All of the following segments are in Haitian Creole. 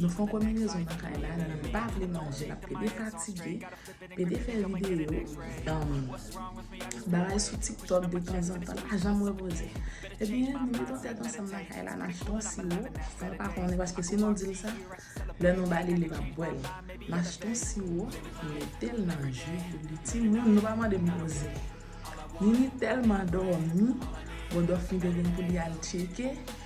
Nou fon konminezon nan kay la li pa vle manje lap pede fatige pede fè video um bagay sou tiktok de tanzantan li pa janm repoze ebyen nou met yon tèt ansanm nan kay la n achte yon siwo fòl pa konnen paske si nou dil sa lè nou ba li li pap bwèl n achte yon siwo nou metel nan ji pou li timoun nou pa mande m koze nini tèlman dòmi bon dòfmi te gen pou li al tcheke.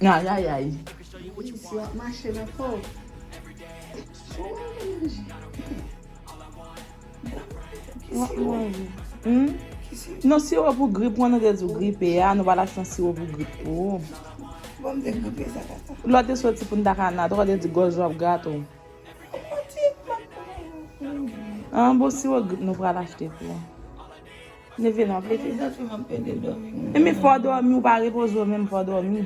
Ayayay. Non siwo pou grip wan nou te di w gripe a nou pa ta chans siwo pou grip pou ou. Lò te soti pou n ta ka nan atò te di gòj ou ap grate w. An bon siwo grip nou pral achte pou ou. Leve la vre. Leve zantray map pede domi. Eme fo domi ou pa repoze ou menm fo domi.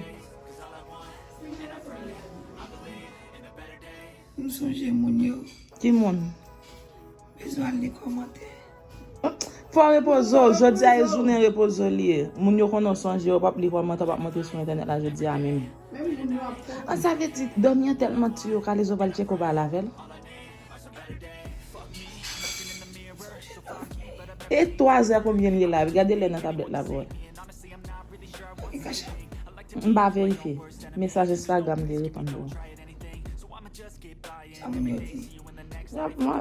M sonje moun yo. Ki moun? Bezwen al li komante. Fo repoze ou jodi a e jounen repoze ou li e. Moun yo konnen ou sonje yo pap li komante ou pap monte sou entènèt la jodi a menm. An sa vle di domi an telman tu yo kalezo pral tcheke ou pa lavel. E 3 zè konbyen li ye la? Gade lè nan tablèt la pou wè. M pa verifye. Mesaj Instagram li reponn pou mwen.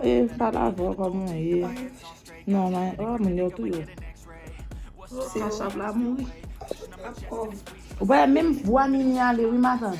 E pa la vwa pa mwen ye. Non mwen. Oh moun yo tou yo. Kachap la mouri. Ou pa wè menm vwa Mimi ale wi matant.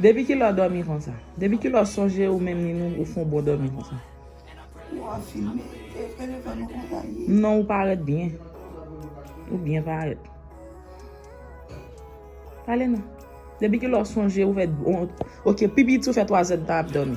Depi kilè w dòmi konsa? Depi kilè w sonje ou menm ni nou ou fon bon dòmi konsa? Ou ap filme e fere fè nou konsa ui. Non ou parèt byen. Ou byen parèt. Pale non. Depi kilè w sonje ou fè bon ok pi piti ou fè 3 zèd tan ap dòmi?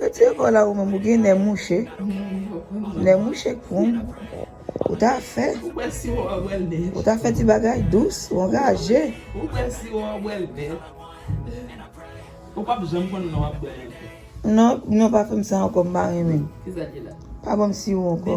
Retire kò la ou menm ou gen nè mouche nè mouche koum ou ta fè ou ta fè ti bagay dous ou angaje non non pa fèm sa ankò m pa renmen pa banm siwo ankò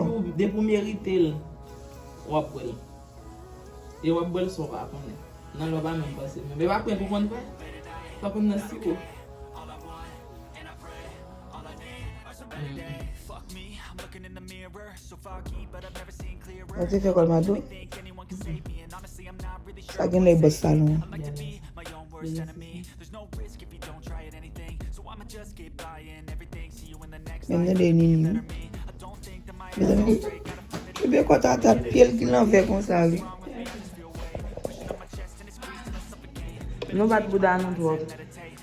Mwen te fè kòl ma dou. Sa gen lè bòs salon. Mwen mwen de nini. Mwen mwen de. Mwen mwen kòt a tap pye l ki lan vè kon sa li. Nou bat bouda nou dwòl.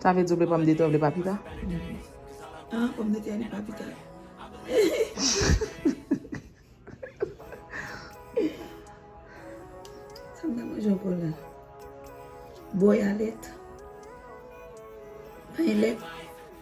Sa vle di ou vle pòm de tè ou vle papita? An pòm de tè ni papita. Sa mwen manje ankò la? Bòy alèt. Panyèlèt.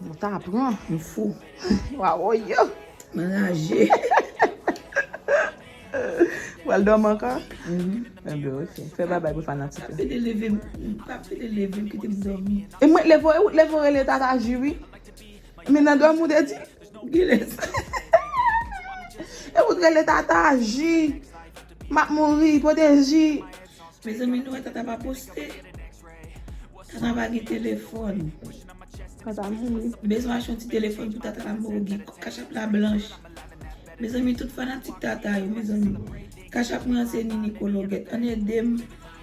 Mwen ta pran. M fou. Wa wò yo. M anraje. Ou al dòmi ankò? Enben ok. Fè babay pou fanatik yo. Pa pede leve m. Pa pede leve m kite m dòmi. E mwen leve w e ou leve w rele Tata Ju wi. Men nan dòmi ou te di? Genlè sa. E ou t rele Tata Ju. M ap mouri. Pote ji. Mezanmi nou wè tata pa poste tata pa gen telefòn tata mouri bezwen achte yon ti telefòn pou tata la mouri kachap la blanch mezanmi tout fanatik tata yo mezanmi kachap mwen an se nini kologèt ann edem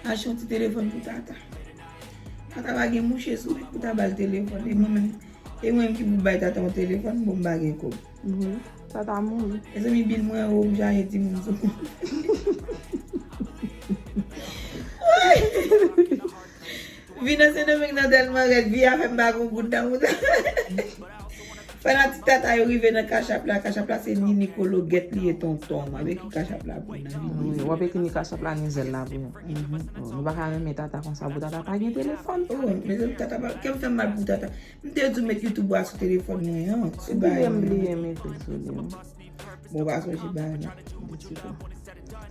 achte yon ti telefòn pou tata tata pa gen mouche sou li pou ta bal telefòn e mwen menm ki pou bay tata yon telefòn bon m pa gen kob. Wi, sa ta mouri. Mezanmi bil mwen yo oubyen ale di moun sou mwen. Vi nan Sendomeng nan tèlman rèd, vi a fè m pa gen yon goud nan mouda. Fanatik Tata yo rive nan Cash App la, Cash App la se Nini Kologet li ye tonton. Map ekri Cash App la pou nou. Wap ekri Cash App la Nizel la pou nou. Nou pa ka renmen Tata konsa pou Tata pa gen telefòn. Mezanmi Tata pa, kèm fè m mal pou Tata. M te di w met youtube ou a sou telefòn mwen an. Ti bay mwen. Ou te di m bliye mete l sou li an. Bon ou pa sonje bay mwen.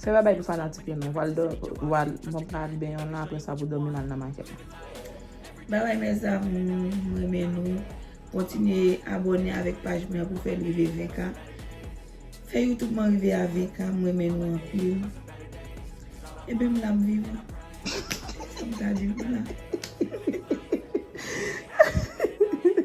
Se pa bay pou fanatik yo non. Wal dòmi, wal bon pa al benyen w lan aprè sa pou dòmi nan nan makèt la. Bye bye mes amours, m renmen nou. Kontinye abone avèk paj mwen an pou fè l rive 20 k. Fè youtube man rive avk m renmen nou anpil Ebyen m la m vivan Sam ta diw m la.